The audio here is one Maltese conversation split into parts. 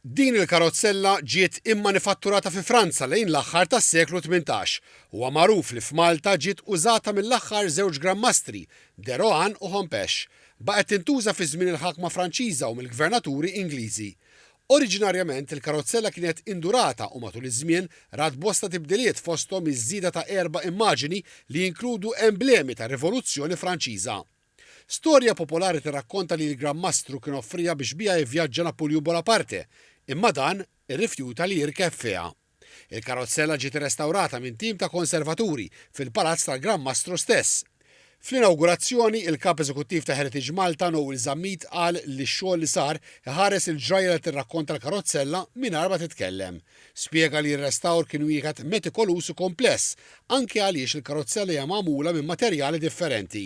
Din il-karozzella ġiet immanifatturata fi Franza lejn l-aħħar tas-seklu tmintax. Huwa magħruf li f'Malta ġiet użata mill-aħħar żewġ granmastri, De Rohan u Hompesch. Baqgħet tintuża fi żmien il-ħakma Franċiża u mill-gvernaturi Ingliżi. Oriġinarjament il-karozzella kienet indurata u matul iż-żmien rat bosta tibdiliet fosthom iż-żieda ta' erba' immaġini li jinkludu emblemi tar-Rivoluzzjoni Franċiża. Storja popolari tirrakkonta li l-Gran Mastru kien offriha biex biha jivvjaġġa Napulju Bonaparte, imma dan irrifjuta li jirkeb fiha. Il-karozzella ġiet irrestawrata minn tim ta' konservaturi fil-palazz tal-Gran Mastru stess. Fl-inawgurazzjoni, il-Kap Eżekuttiv ta' Heritage Malta, Noel Zammit qal li x-xogħol li sar iħares il-ġrajja li tirrakkonta l-karozzella mingħajr ma titkellem. Spjega li r-restawr kien wieħed metikolus u kompless, anki għaliex il-karozzella hija magħmula minn materjali differenti.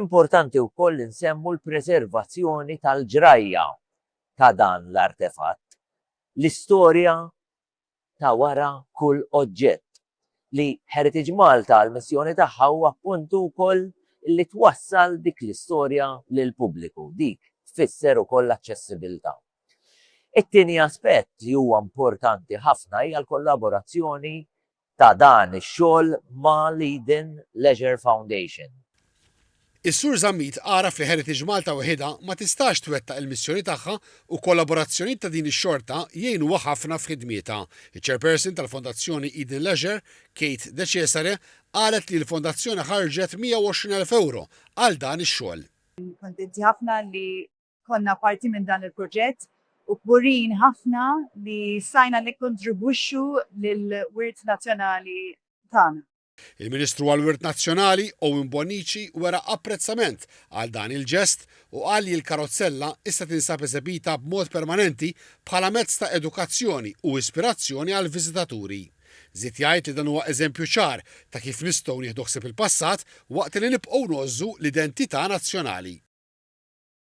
Importanti wkoll li nsemmu l-preservazzjoni tal-ġrajja ta' dan l-artefatt, l-istorja ta' wara kull oġġett, li Heritage Malta l-missjoni tagħha huwa appuntu wkoll li twassal dik l-istorja lill-pubbliku, dik tfisser ukoll l-aċċessibilità. It-tieni aspett li huwa importanti ħafna hija l-kollaborazzjoni ta' dan ix-xogħol ma' l-Eden Leisure Foundation. Is-Sur Zammit għaraf li Heritage Malta weħidha ma tistax twettaq il-missjoni tagħha u kollaborazzjonijiet ta' din ix-xorta jgħinuha ħafna f'ħidmietha. Iċ-Chairperson tal-Fondazzjoni Eden Leisure, Kate De Cesare, qalet li l-Fondazzjoni ħarġet 120,000 ewro għal dan ix-xogħol. Kuntenti ħafna li Konna parti minn dan il-proġett u kburin ħafna li stajna nikkontribwixxu lill-wirt nazzjonali tagħna. Il-Ministru għall-Wirt Nazzjonali, Owen Bonnici wera apprezzament għal dan il-ġest u qal li l-karozzella issa tinsab eżebita b'mod permanenti bħala mezz ta' edukazzjoni u ispirazzjoni għall-viżitaturi. Żied jgħid li dan huwa eżempju ċar ta' kif nistgħu nieħdu ħsieb il-passat waqt li nibqgħu ngħożżu l-identità nazzjonali.